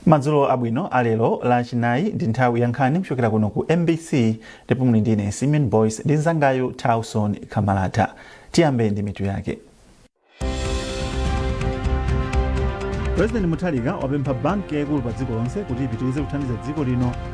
madzulo abwino alero la chinayi ndi nthawi ya nkhani kuchokera kuno ku mbc ndipo muli ndine simeon boyce ndi mzangayu tauson kamalata tiyambe ndi mitu yake president mutharika wapempha banki yaikulu pa dziko lonse kuti ipitirize kuthandiza dziko lino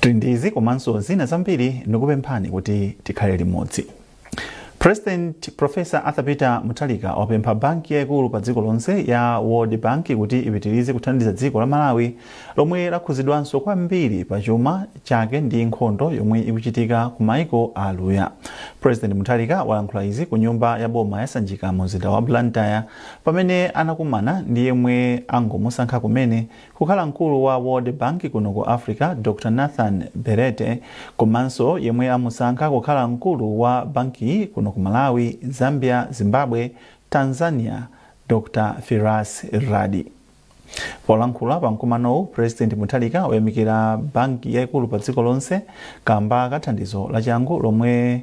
Tili ndi izi komanso zina zambiri ndikupemphani kuti tikhale limodzi. President Professor Arthur Peter Mutharika wapempha banki yaikulu pa dziko lonse ya World Bank kuti ipitirize kuthandiza dziko la Malawi lomwe lakhuzidwanso kwambiri pa chuma chake ndi nkhondo yomwe ikuchitika ku maiko a aluya. President Mutharika walankhula izi ku nyumba ya boma ya Sanjika mu mzinda wa Blantyre pamene anakumana ndi yemwe angomusankha kumene Kukhala mkulu wa World Bank kuno ku Africa, Dr Nathan Belete, komanso yemwe amusankha kukhala mkulu wa bankiyi kuno ku Malawi, Zambia, Zimbabwe, Tanzania, Dr Firas Raad. Polankhula pa mkumanowu, President Mutharika wayamikira banki yaikulu pa dziko lonse kamba ka thandizo lachangu lomwe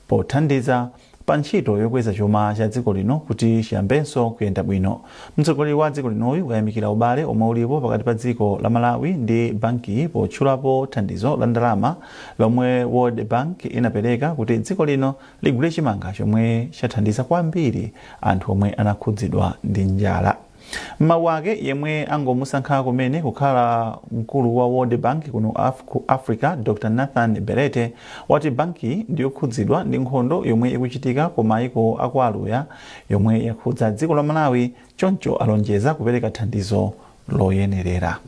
pothandiza pa ntchito yokweza chuma cha dziko lino kuti chiyambenso kuyenda bwino. Mtsogoleri wa dziko linoyu wayamikira ubale omwe ulipo pakati pa dziko la Malawi ndi bankiyi potchulapo thandizo la ndalama lomwe World Bank inapereka kuti dziko lino ligule chimanga chomwe chathandiza kwambiri anthu omwe anakhudzidwa ndi njala. M'mawu ake, yemwe angomusankha kumene kukhala mkulu wa World Bank kuno ku Africa, Dr Nathan Belete, wati bankiyi ndiyokhudzidwa ndi nkhondo yomwe ikuchitika ku maiko a kwa aluya yomwe yakhudza dziko la Malawi choncho alonjeza kupereka thandizo loyenerera.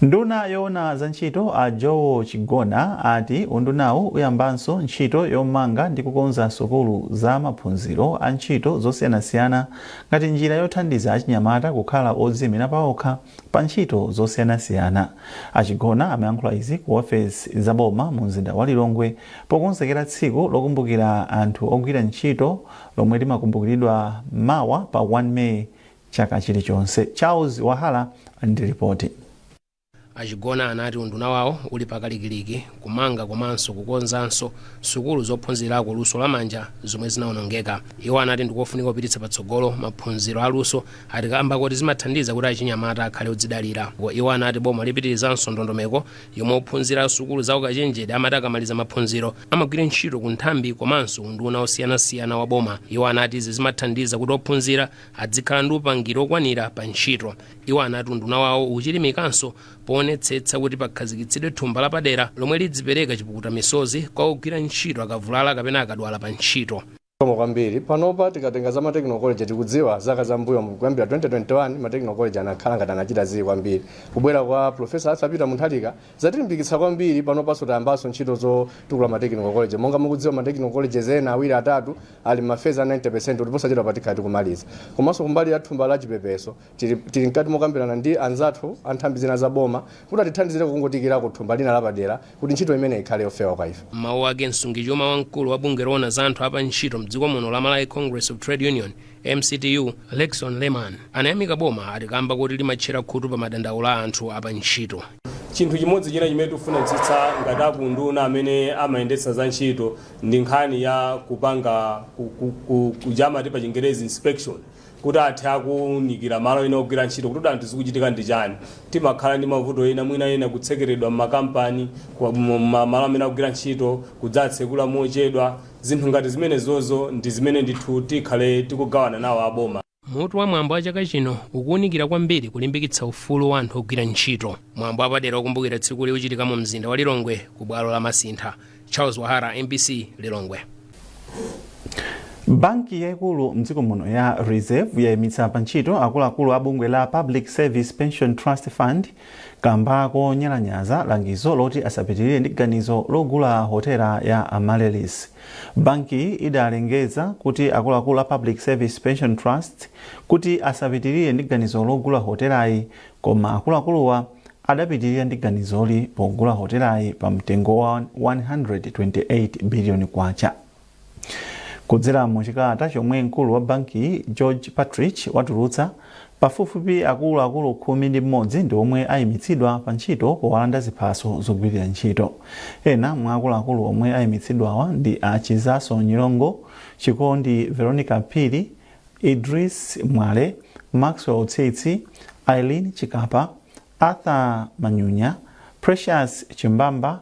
Nduna yoona za ntchito a Joel Chigona ati undunawu uyambanso ntchito yomanga ndi kukonza sukulu za maphunziro a ntchito zosiyanasiyana ngati njira yothandiza achinyamata kukhala odziimira paokha pa ntchito zosiyanasiyana. A Chigona amayankhula izi ku ofesi za boma mu mzinda wa Lilongwe pokonzekera tsiku lokumbukira anthu ogwira ntchito lomwe limakumbukiridwa mawa pa 1 May chaka chilichonse. Charles Wahala ali ndi lipoti. A Chigona anati unduna wawo uli pakalikiliki kumanga komanso kukonzanso sukulu zophunzirako luso la manja zomwe zinaonongeka. Iwo anati ndikofunika kupititsa patsogolo maphunziro a luso ati kaamba koti zimathandiza kuti achinyamata akhale odzidalira. Iwo anati boma lipitilizanso ndondomeko yomwe ophunzira sukulu za ukachenjede amati akamaliza maphunziro amagwira ntchito ku nthambi komanso unduna osiyanasiyana wa boma. Iwo anati izi zimathandiza kuti ophunzira adzikhala ndi upangiri okwanira pa ntchito. Iwo anati unduna wawo uchilimikanso poonetsetsa kuti pakhazikitsidwe thumba lapadera lomwe lidzipereka chipukuta misozi kwa ogwira ntchito akavulala kapena akadwala pa ntchito. Zikomo kwambiri. Panopa tikatenga za matechnical college tikudziwa zaka za mbuyo kuyambira 2021 matechnical college anakhala ngati anachita zii kwambiri. Kubwera kwa Professor Arthur Peter Munthalika yatilimbikitsa kwambiri panopanso tayambanso ntchito zotukula ma technical college monga mukudziwa ma technical colleges ena awiri atatu ali m'mafezi a 90 kuti posachedwapa tikhale tikumaliza komanso kumbali ya thumba la chipepeso tili mkati mokambirana ndi anzathu a nthambi zina za boma kuti atithandizire kungotiikirako thumba lina lapadera kuti ntchito imeneyi ikhale yofewa kwa ife m'mawu ake msungichuma wamkulu wa bungwe loona za anthu a pa ntchito mdziko muno la malawi congress of trade union MCTU, Lexon Lehman, anayamika boma ati kamba koti limatchera khutu pa madandaulo a anthu a pa ntchito. Chinthu chimodzi china chimene tikufunitsitsa ngati akunduna amene amayendetsa za ntchito ndi nkhani ya kupanga kuja amati pa chingerezi inspection kuti athe kuunikira malo ena ogwira ntchito kuti anthu zikuchitika ndi chani. Timakhala ndi mavuto ena mwina ena kutsekeredwa m'makampani, malo amene akugwira ntchito kudzatsekula mochedwa. Zinthu ngati zimenezozo ndi zimene ndithu tikhale tikugawana nawo a boma. Mutu wa mwambo wa chaka chino ukuunikira kwambiri kulimbikitsa ufulu wa anthu ogwira ntchito. Mwambo wapadera wokumbukira tsikuli uchitika mu mzinda wa Lilongwe ku bwalo la Masintha. Charles Wahara, mbc, Lilongwe. Banki yaikulu mdziko muno ya Reserve yaimitsa pa ntchito akuluakulu a bungwe la Public Service Pension Trust Fund kamba konyalanyaza langizo loti asapitirire ndi ganizo logula hotela ya Amaryllis. Bankiyi idalengeza kuti akuluakulu a Public Service Pension Trust kuti asapitirire ndi ganizo logula hotelayi koma akuluakuluwa adapitirira ndi ganizoli pogula hotelayi pa mtengo wa 128 biliyoni kwacha. Kudzera mu chikalata chomwe mkulu wa bankiyi George Partridge watulutsa, pafupifupi akulu akulu khumi ndi m'modzi ndi omwe ayimitsidwa pa ntchito powalanda ziphaso zogwirira ntchito. Ena mwa akuluakulu omwe ayimitsidwawa ndi a Chizaso Nyirongo, Chikondi Veronica Phiri, Idris Mwale, Maxwell Tsitsi, Aileen Chikapa, Arthur Manyunya, Precious Chimbamba,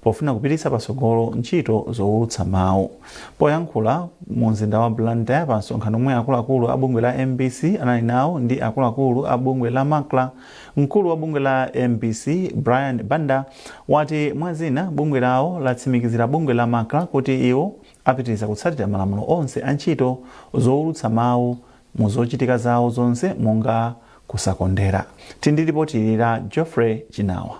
Pofuna kupititsa patsogolo ntchito zowulutsa mawu, poyankhula mu mzinda wa Blantyre pa msonkhano omwe akuluakulu a bungwe la mbc anali nawo ndi akuluakulu a bungwe la Macra, mkulu wa bungwe la mbc Brian Banda wati mwa zina bungwe lawo latsimikizira bungwe la Macra kuti iwo apitiriza kutsatira malamulo onse a ntchito zowulutsa mawu mu zochitika zawo zonse monga kusakondera. Tili ndi lipoti ili la Geoffrey Chinawa.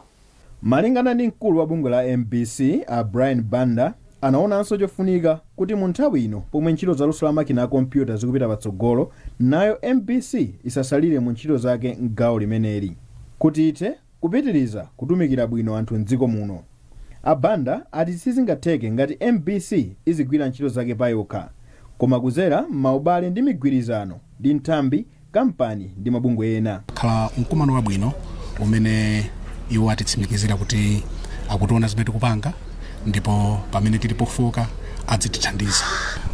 Malingana ndi mkulu wa bungwe la mbc a Brian Banda anaonanso chofunika kuti mu nthawi ino pomwe ntchito za luso la makina a kompyuta zikupita patsogolo, nayo mbc isasalire mu ntchito zake m'gawo limeneli kuti ithe kupitiriza kutumikira bwino anthu m'dziko muno. A Banda ati sizingatheke ngati mbc izigwira ntchito zake payokha koma kuzera m'maubale ndi migwirizano. ndi nthambi, kampani ndi mabungwe ena. khala mkumano wabwino umene iwo atitsimikizira kuti akutiona zimene tikupanga ndipo pamene tili pofooka adzitithandiza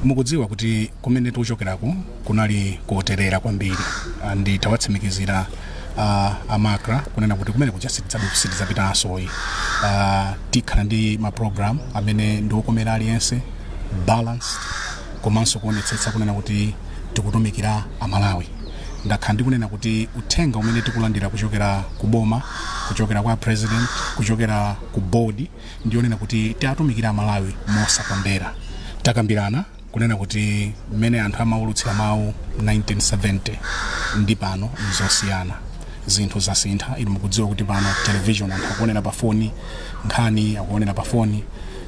mukudziwa kuti kumene tikuchokerako kunali koterera kwambiri Ah, ndi tawatsimikizira ah, a macra kunena kuti kumene kuja sitidzabu- sitidzapitansoyi Ah, tikhala ndi maprogramu amene ndiokomera aliyense balanced komanso kuonetsetsa kunena kuti tikutumikira a Malawi. Ndakhala ndikunena kuti uthenga umene tikulandira kuchokera ku boma, kuchokera kwa president, kuchokera ku board ndionena kuti tiatumikire a Malawi mosakondera. Takambirana kunena kuti mmene anthu amaulutsira mawu 1970 ndi pano nzosiyana zinthu zasintha inu mukudziwa kuti pano television anthu akuonera pa foni nkhani akuonera pa foni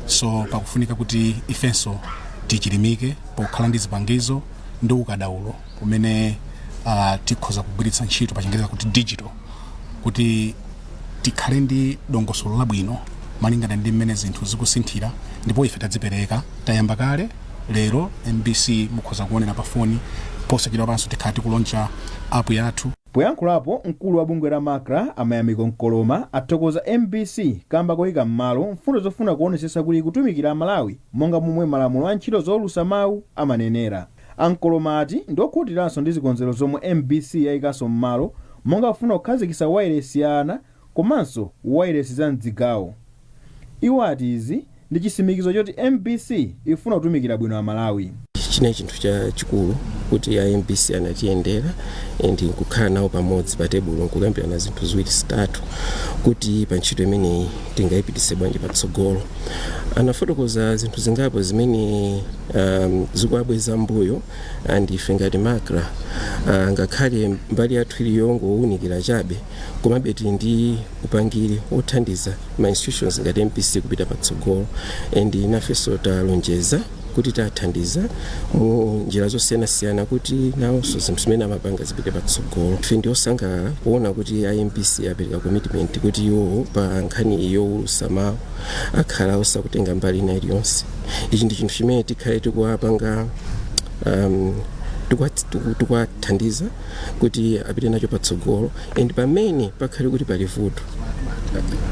so pakufunika kuti ifenso tichilimike pokhala ndi zipangizo ndi ukadaulo umene uh, tikhoza kugwiritsa ntchito pachingereza kuti digital kuti tikhale ndi dongosolo labwino malingana ndi mmene zinthu zikusinthira ndipo ife tadzipereka tayamba kale lero mbc mukhoza kuonera pa foni posachedwa panso tikhala tikuloncha app yathu poyankhulapo mkulu wa bungwe la macra a Mayamiko Nkoloma athokoza mbc kamba koyika m'malo mfundo zofuna kuonetsetsa kuti kutumikira amalawi Monga momwe malamulo a ntchito zoulusa mawu amanenera, a Nkoloma ati ndiokhutiranso ndi zikonzero zomwe mbc yaikanso mmalo monga kufuna kukhazikisa wailesi ya ana komanso wailesi za mdzigawo. Iwo ati izi ndi chisimikizo choti mbc ifuna kutumikira bwino amalawi. china chinthu chachikulu kuti a mbc anatiyendera and nkukhala nawo pamodzi pa tebulo nkukambirana zinthu ziwiri zitatu kuti pa ntchito imeneyi tingayipitise bwanji patsogolo anafotokoza zinthu zingapo zimene um, zikuwabweza mbuyo and ife ngati macra uh, ngakhale mbali yathu ili yongowunikira chabe komabe tili ndi upangiri wothandiza ma institutions ngati mbc kupita patsogolo and nafenso talonjeza kuti tathandiza mu njira zosiyanasiyana kuti nawonso zinthu zimene amapanga zipite patsogolo ife ndi osangalala kuona kuti a mbc apereka commitment kuti iwowo pa nkhani yowulutsa mawu akhala osakutenga mbali ina iliyonse ichi ndi chinthu chimene tikhale tikuwapanga um, tikuwathandiza kuti apite nacho patsogolo and pamene pakhale kuti pali vuto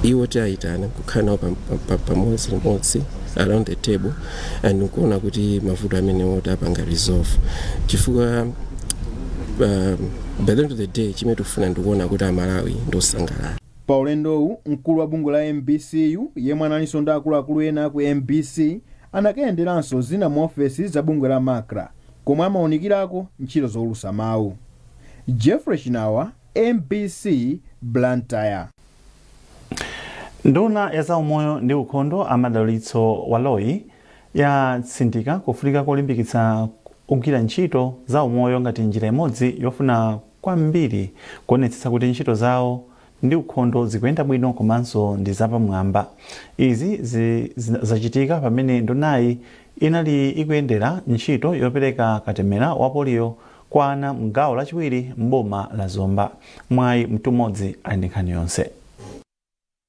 iwo tiwayitana kukhala nawo pam- pam- pam- pamodzi limodzi around the table and nkuona kuti mavuto amenewo tapanga resolve chifukwa um, by the end of the day chimene tikufuna ndikuona kuti amalawi ndiosangalala pa ulendowu mkulu wa bungwe la mbcu yemwe analinso ndi akuluakulu ena ku mbc anakayenderanso zina mu ofesi za bungwe la macra komwe amaunikirako ntchito zoulusa mawu. Jeffrey Chinawa, mbc, Blantyre. Nduna ya zaumoyo ndi ukhondo a Madalitso Baloyi yatsindika kufunika kolimbikitsa ogwira ntchito za umoyo ngati njira imodzi yofuna kwambiri kuonetsetsa kuti ntchito zawo ndi ukhondo zikuyenda bwino komanso ndi zapamwamba. Izi zachitika pamene ndunayi inali ikuyendera ntchito yopereka katemera wa poliyo kwa ana mgawo lachiwiri m'boma la Zomba. Mwayi Mtumodzi ali ndi nkhani yonse.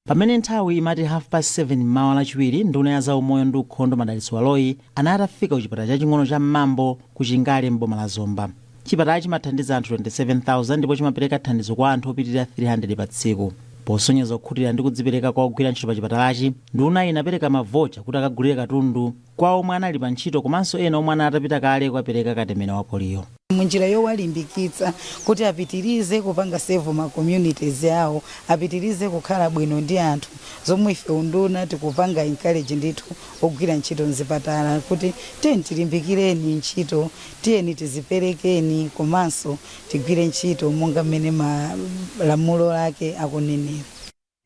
Pamene nthawi imati half past 7 mmawa lachiwiri, nduna ya zaumoyo ndi ukhondo Madalitso Baloyi anali atafika ku chipatala chaching'ono cha Mmambo ku Chingale m'boma la Zomba. Chipatalachi chimathandiza anthu 27,000 ndipo chimapereka thandizo kwa anthu opitirira 300 pa tsiku. Posonyeza kukhutira ndi kudzipereka kwa ogwira ntchito pachipatalachi, ndunayi inapereka mavocha kuti akagulire katundu kwa omwe anali pa ntchito komanso ena omwe anali atapita kale kukapereka katemera wa poliyo. Munjira yowalimbikitsa kuti apitirize kupanga serve ma communities awo, apitirize kukhala bwino ndi anthu, zomwe ife unduna tikupanga encourage ndithu ogwira ntchito mzipatala kuti tiyeni tilimbikireni ntchito Tiyeni tiziperekeni komanso tigwire ntchito monga mmene malamulo ake akunenera.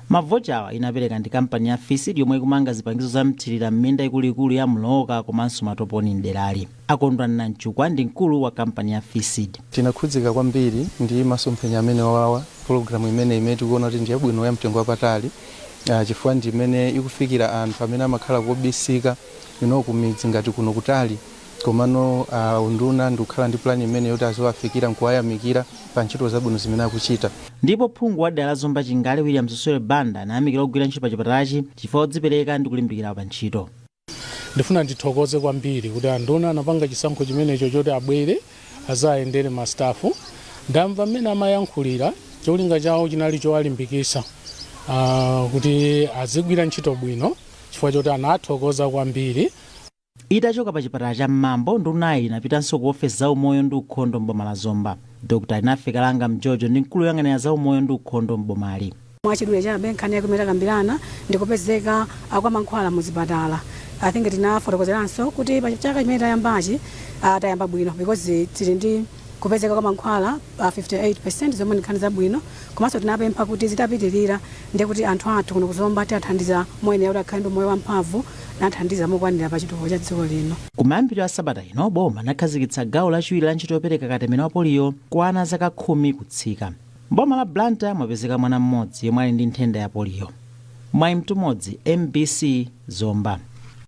Mavochawa inapereka ndi kampani ya Fisd yomwe ikumanga zipangizo za mthirira m'minda ikuluikulu ya Mlooka komanso Matoponi m'derali. A Kondwani Nanchukwa ndi mkulu wa kampani ya Fisd. Tinakhudzika kwambiri ndi masomphenya amenewawa, pologalamu imeneyi imene tikuona kuti ndi yabwino ya mtengo wapatali chifukwa ndi imene ikufikira anthu amene amakhala kobisika you know kumidzi ngati kuno kutali. Komano unduna ndikukhala ndi plan imeneyi yoti aziwafikira nkuwayamikira pa ntchito zabwino zimene akuchita. Ndipo phungu wa dera la Zomba Chingale Williams Sule Banda anayamikira ogwira ntchito pa chipatalachi chifukwa odzipereka ndi kulimbikira pa ntchito. Ndifuna ndithokoze kwambiri kuti a nduna anapanga chisankho chimenecho choti abwere azayendere ma staff. Ndamva mmene amayankhulira cholinga chawo chinali chowalimbikisa uh, kuti azigwira ntchito bwino chifukwa choti anathokoza kwambiri. Itachoka pa chipatala cha Mmambo, ndunayi inapitanso ku ofesi za umoyo ndi ukhondo m'boma la Zomba. Dr. Alinafe Kalanga Mjojo ndi mkulu woyang'anira za umoyo ndi ukhondo m'bomali. Mwachidule chabe nkhani yake imene takambirana ndi kupezeka kwa mankhwala mu zipatala. I think tinafotokozeranso kuti pa chaka chimene tayambachi tayamba bwino because tili ndi kupezeka kwa mankhwala pa 58% zomwe ndi nkhani zabwino komanso tinapempha kuti zitapitilira ndiye kuti anthu athu kuno ku Zomba tiathandiza moyenera kuti akhale ndi moyo wamphamvu nathandiza mokwanira pa chitukuko cha dziko lino. Kumayambiriro a sabata ino, boma linakhazikitsa gawo lachiwiri la ntchito yopereka katemera wa poliyo kwa ana a zaka khumi kutsika. M'boma la Blantyre mwapezeka mwana mmodzi yemwe ali ndi nthenda ya poliyo. Mwayi Mtumodzi, mbc, Zomba.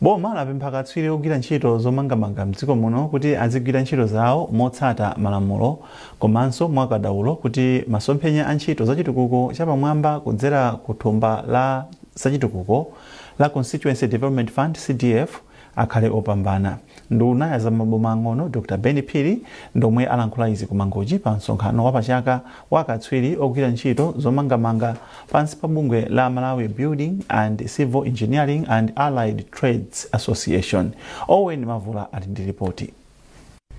Boma lapempha akatswiri ogwira ntchito zomangamanga m'dziko muno kuti azigwira ntchito zawo motsata malamulo komanso mwa ukadaulo kuti masomphenya a ntchito za chitukuko cha pamwamba kudzera ku thumba la zachitukuko la Constituency Development Fund, CDF, akhale opambana. Nduna ya za maboma ang'ono Dr. Ben Phiri ndi omwe alankhula izi ku Mangochi pa msonkhano wa pachaka wa akatswiri ogwira ntchito zomangamanga pansi pa bungwe la Malawi Building and Civil Engineering and Allied Trades Association. Owen Mavula ali ndi ripoti.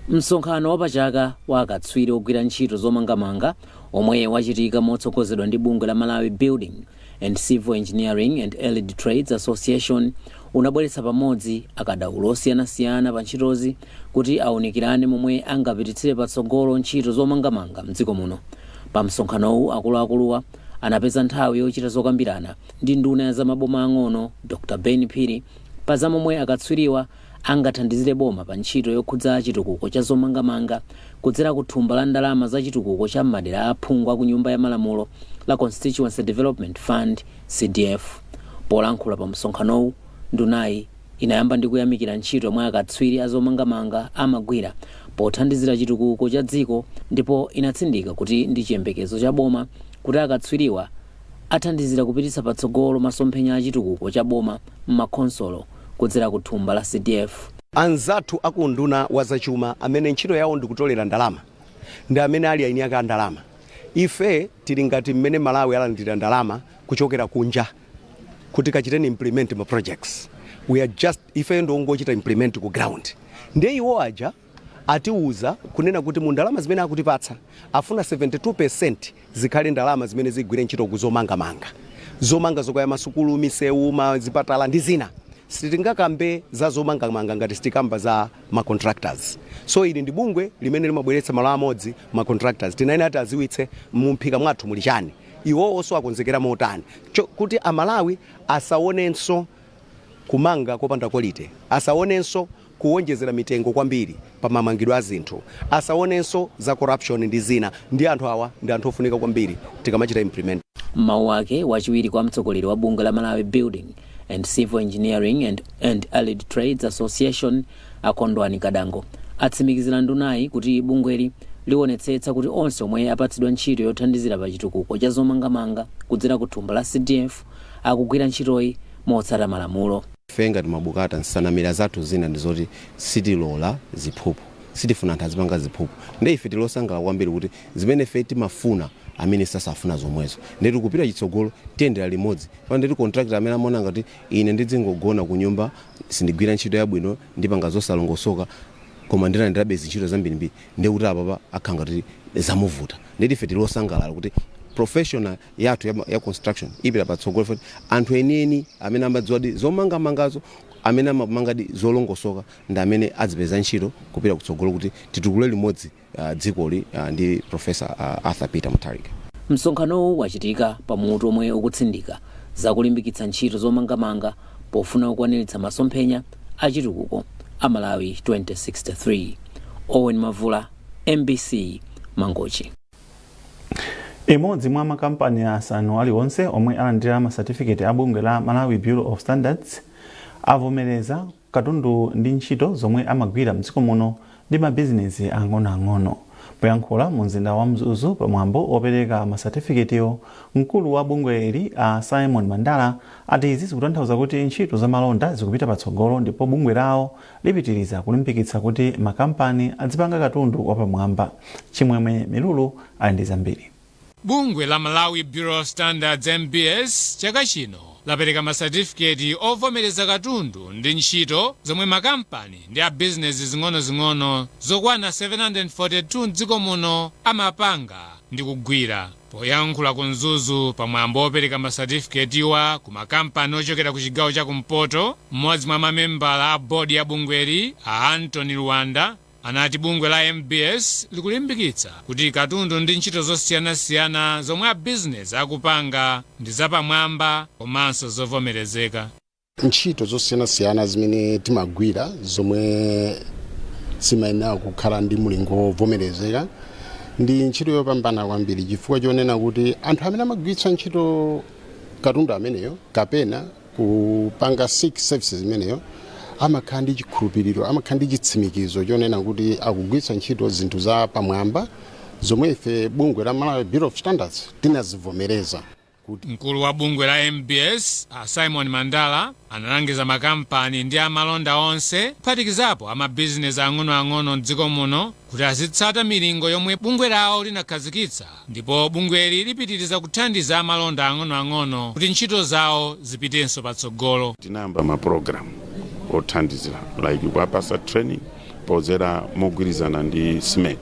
Msonkhano wapachaka wa akatswiri ogwira ntchito zomangamanga omwe wachitika motsogozedwa ndi bungwe la Malawi Building and Civil Engineering and Allied Trades Association unabweretsa pamodzi akadaulo osiyanasiyana pa ntchitozi kuti aunikirane momwe angapititsire patsogolo ntchito zomangamanga mdziko muno. Pa msonkhanowu akuluakuluwa anapeza nthawi yochita zokambirana ndi nduna ya za maboma ang'ono Dr Ben Phiri pa za momwe akatswiriwa angathandizire boma pa ntchito yokhudza chitukuko cha zomangamanga kudzera ku thumba la ndalama za chitukuko cha m'madera a aphungu a ku Nyumba ya Malamulo la Constituency Development Fund, CDF. Polankhula pa msonkhanowu, ndunayi inayamba ndi kuyamikira ntchito yomwe akatswiri a zomangamanga amagwira pothandizira chitukuko cha dziko ndipo inatsindika kuti ndi chiyembekezo cha boma kuti akatswiriwa athandizira kupititsa patsogolo masomphenya a chitukuko cha boma m'makhonsolo kudzera ku thumba la CDF. Anzathu a ku unduna wa zachuma amene ntchito yawo ndi kutolera ndalama ndi amene ali aini ake a ndalama. Ife tili ngati mmene Malawi alandira ndalama kuchokera kunja kuti kachiteni implement ma projects. We are just, ifeyo ndi ongochita implement ku ground. Ndiye iwo aja Atiuza kunena kuti mu ndalama zimene akutipatsa afuna 72% zikhale ndalama zimene zigwire ntchito ku zomanga manga. Zomanga zokaya masukulu, misewu, ma zipatala ndi zina. Sitingakambe za zomanga manga ngati sitikamba za ma contractors. So ili ndi bungwe limene limabweretsa malo amodzi ma contractors. Tinayenera tiaziwitse mu m'phika mwathu muli chani. Iwowoso akonzekera motani kuti a Malawi asaonenso kumanga kopanda quality, asaonenso kuwonjezera mitengo kwambiri pa mamangidwe a zinthu, asawonenso za corruption ndi zina, ndiye anthu awa ndi anthu ofunika kwambiri tikamachita implement. M'mawu awo, wachiwiri kwa mtsogoleri wa bungwe la Malawi Building and Civil Engineering and, and Allied Trades Association a Kondwani Kadango atsimikizira ndunayi kuti bungweli liwonetsetsa kuti onse omwe apatsidwa ntchito yothandizira pa chitukuko cha zomangamanga kudzera ku thumba la CDF akugwira ntchitoyi motsata malamulo. Ife ngati MABCATA nsanamira zathu zina ndi zoti sitilola ziphuphu. Sitifuna anthu azipanga ziphuphu. Nde ife tili osangalala kwambiri kuti zimene ife timafuna a minister akufuna zomwezo. Ndeti kupita chitsogolo tiyendera limodzi. Chifukwa ndithu contractor amene amaona ngati ine ndidzingogona kunyumba sindigwira ntchito yabwino ndipanga zosalongosoka koma ndilandirabe zintchito zambirimbiri ndekuti apapa akhala ngati zamuvuta. Ndeti ife tili osangalala kuti profession yathu ya, ya construction ipita patsogolo ndekuti anthu enieni amene amadziwadi zomangamangazo amene amamangadi zolongosoka ndi amene adzipeza ntchito kupita kutsogolo kuti titukule limodzi uh, dzikoli uh, ndi professor uh, Arthur Peter Mutharika. Msonkhanowu wachitika pa mutu omwe ukutsindika za kulimbikitsa ntchito zomangamanga pofuna kukwaniritsa masomphenya a chitukuko a Malawi 2063. Owen Mavula, MBC, Mangochi. Imodzi mwa makampani asanu aliwonse omwe alandira masatifiketi a bungwe la Malawi Bureau of Standards avomereza katundu ndi ntchito zomwe amagwira mdziko muno ndi mabizinezi ang'onoang'ono. Poyankhula mu mzinda wa Mzuzu pa mwambo opereka masatifiketiwo, mkulu wa bungweli a Simon Mandala ati izi zikutanthauza kuti ntchito za malonda zikupita patsogolo ndipo bungwe lawo lipitiriza kulimbikitsa kuti makampani adzipanga katundu wapamwamba. Chimwemwe Milulu ali ndi zambiri. Bungwe la Malawi Bureau of Standards, MBS, chaka chino lapereka ma satifiketi ovomereza katundu ndi ntchito zomwe makampani ndi a bizinezi zing'onozing'ono zokwana 742 m'dziko muno amapanga ndi kugwira. Poyankhula ku Mzuzu pa mwambo wopereka ma satifiketiwa ku makampani ochokera ku chigawo cha kumpoto, m'modzi mwa mamembala a board ya bungweli a Anthony Luwanda anati bungwe la MBS likulimbikitsa kuti katundu ndi ntchito zosiyanasiyana zomwe a bizinezi akupanga ndi zapamwamba komanso zovomerezeka. ntchito zosiyanasiyana zimene timagwira zomwe zimayenera kukhala ndi mulingo wovomerezeka ndi ntchito yopambana kwambiri chifukwa chonena kuti anthu amene amagwiritsa ntchito katundu ameneyo kapena kupanga seek services imeneyo amakhala ndi chikhulupiriro amakhala ndi chitsimikizo chonena kuti akugwiritsa ntchito zinthu za pamwamba zomwe ife bungwe la malawi bureau of standards tinazivomereza Mkulu wa bungwe la mbs, a Symon Mandala, analangiza makampani ndi amalonda onse kuphatikizapo a mabizinesi ang'onoang'ono m'dziko muno kuti azitsata milingo yomwe bungwe lawo linakhazikitsa ndipo bungweli lipitiriza kuthandiza amalonda ang'onoang'ono kuti ntchito zawo zipitenso patsogolo. Tinayamba ma program othandizira like kuwapatsa training. podzera mogwirizana ndi SMED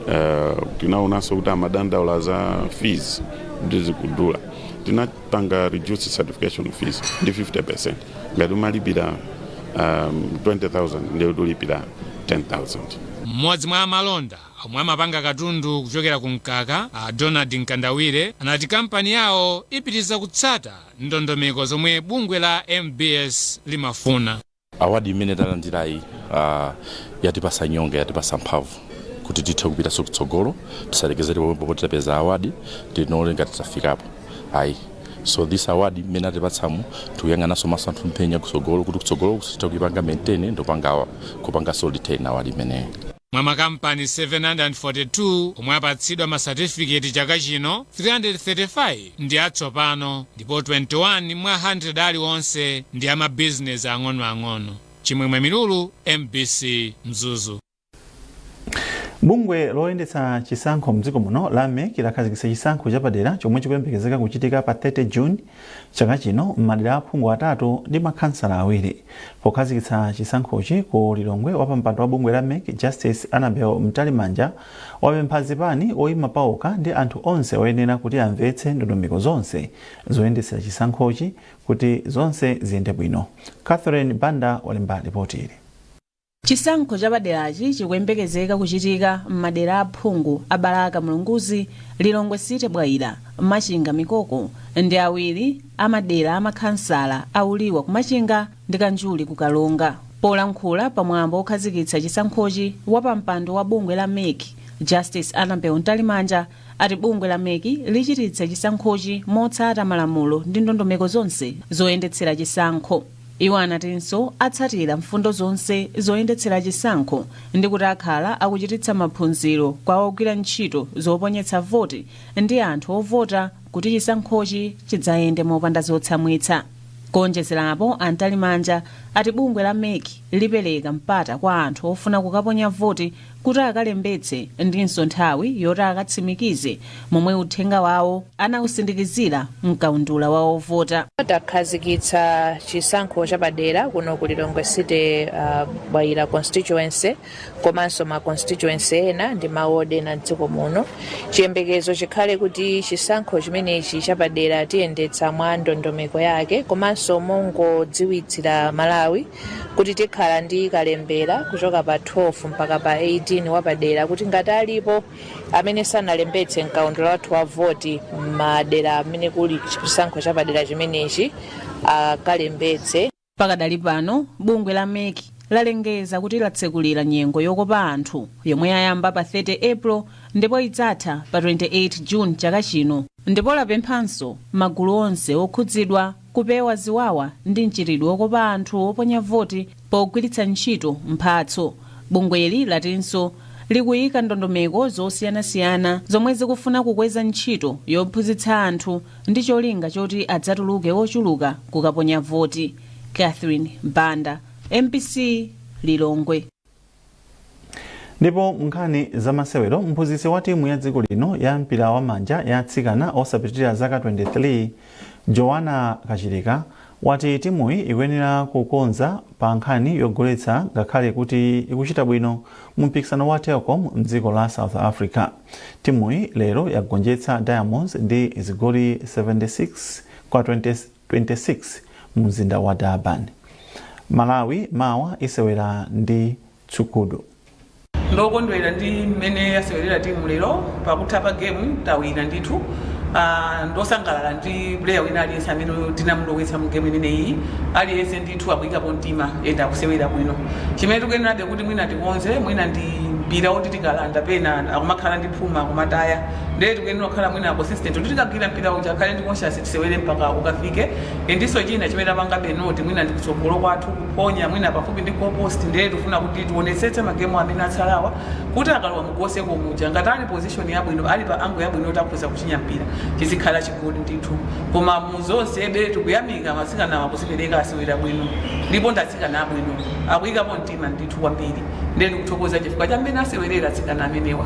uh, tinaonanso kuti amadandaula za fees kuti zikudula tinapanga reduce certification fees ndi 50% ngati umalipira um, 20000 ndiye uzilipira 10000 mmodzi mwa amalonda omwe amapanga katundu kuchokera ku mkaka a donald mkandawire anati kampani yawo ipitiriza kutsata ndondomeko zomwe bungwe la mbs limafuna awadi imene talandirayi uh, yatipasa nyonga yatipasa mphamvu kuti tithe kupitanso kutsogolo tisalekezere pomwepo poti tapeza awadi tione ngati tafikapo ayi so this award imene atipatsamu tikuyang'ananso maso athu mphenya kutsogolo kuti kutsogoloku tithe kuipanga maintain ndi kupanga kupanganso retain awadi imeneyo Mwa makampani 742 omwe apatsidwa masatifiketi chaka chino, 335 ndi atsopano ndipo 21 mwa 100 aliwonse ndi a mabizinesi ang'onoang'ono. Chimwemwe Milulu, mbc, Mzuzu. Bungwe loyendetsa chisankho mdziko muno la mec lakhazikitsa chisankho chapadera chomwe chikuyembekezeka kuchitika pa 30 June Chaka chino m'madera a aphungu atatu ndi makhansala awiri pokhazikitsa chisankhochi ku Lilongwe, wapampando wa bungwe la mec Justice Annabel Mtalimanja wapempha zipani, oyima paokha ndi anthu onse oyenera kuti amvetse ndondomeko zonse zoyendetsera chisankhochi kuti zonse ziyende bwino. Catherine Banda walemba lipotili. Chisankho chapaderachi chikuyembekezeka kuchitika m'madera a aphungu a Balaka Mulunguzi, Lilongwe City Bwaila, Machinga Mikoko ndi awiri a madera a makhansala a Uliwa ku Machinga ndi Kanjuli ku Karonga. Polankhula pa mwambo wokhazikitsa chisankhochi, wapampando wa bungwe la mec, Justice Annabel Mtalimanja, ati bungwe la mec lichititsa chisankhochi motsata malamulo ndi ndondomeko zonse zoyendetsera chisankho. Iwo anatinso atsatira mfundo zonse zoyendetsera chisankho ndi kuti akhala akuchititsa maphunziro kwa ogwira ntchito zoponyetsa voti ndi anthu ovota kuti chisankhochi chidzayende mopanda zotsamwitsa. Kuonjezerapo, a Mtalimanja ati bungwe la mec lipereka mpata kwa anthu ofuna kukaponya voti kuti akalembetse ndinso nthawi yoti akatsimikize momwe uthenga wawo anausindikizira m'kaundula wa ovota. Takhazikitsa chisankho chapadera kuno ku Lilongwe City uh, Bwaila constituency komanso ma constituency ena ndi mawodi ena mdziko muno. Chiyembekezo chikhale kuti chisankho chimenechi chapadera tiyendetsa mwa ndondomeko yake komanso mongodziwitsa aMalawi kuti tikhala ndi kalembera kuchoka pa 12 mpaka pa 18 wapadera kuti ngati alipo amene sanalembetse mkaundula wathu wa ovota m'madera amene kuli chisankho chapadera chimenechi akalembetse pakadali pano bungwe la mec lalengeza kuti latsekulira nyengo yokopa anthu yomwe yayamba pa 30 april ndipo idzatha pa 28 june chaka chino ndipo lapemphanso magulu onse okhudzidwa Kupewa ziwawa ndi mchitidwe wokopa anthu oponya voti pogwiritsa ntchito mphatso. Bungweli latinso likuyika ndondomeko zosiyanasiyana zomwe zikufuna kukweza ntchito yophunzitsa anthu ndi cholinga choti adzatuluke ochuluka kukaponya voti. Catherine Banda, mbc, Lilongwe. Ndipo munkhani zamasewero, mphunzitsi wa timu ya dziko lino ya mpira wa manja ya atsikana osapitirira zaka 23, Joanna Kachilika, wati timuyi ikuyenera kukonza pa nkhani yogoletsa ngakhale kuti ikuchita bwino mu mpikisano wa Telkom mdziko la South Africa. Timuyi lero yagonjetsa Diamonds ndi zigoli 76 kwa 20. 26 mu mzinda wa Durban. Malawi mawa isewera ndi Tshukudu. ndokondwera ndi mmene yasewerera timu lero pakutha pa game tawina ndithu uh, ndosangalala ndi player wina aliyense amene tinamulowetsa mu game imeneyi aliyense ndithu akuyikapo mtima ende akusewera bwino chimene tikuyenerabe kuti mwina tikonze mwina ndi mpira oti tikalanda pena akumakhala ndi phuma akumataya ndiye tikuyenera kukhala mwina consistent kuti tikagwira mpira uja akhale ndi conscious tisewere mpaka ukafike ndiso china chimene tapangabe note mwina ndi kutsogolo kwathu kuphonya mwina pafupi ndi goal post ndiye tifuna kuti tionetsetse magemu amene atsalawa kuti akalowa mu goal circle muja ngati ali position yabwino ali pa angle yabwino kuti akhoza kuchinya mpira chizikhala chigoli ndithu koma mu zonsebe tikuyamika atsikanawa akuzipereka asewera bwino ndipo ndi atsikana abwino akuyikapo mtima ndithu kwambiri ndiye ndikuthokoza chifukwa cha mmene asewerera atsikana amenewa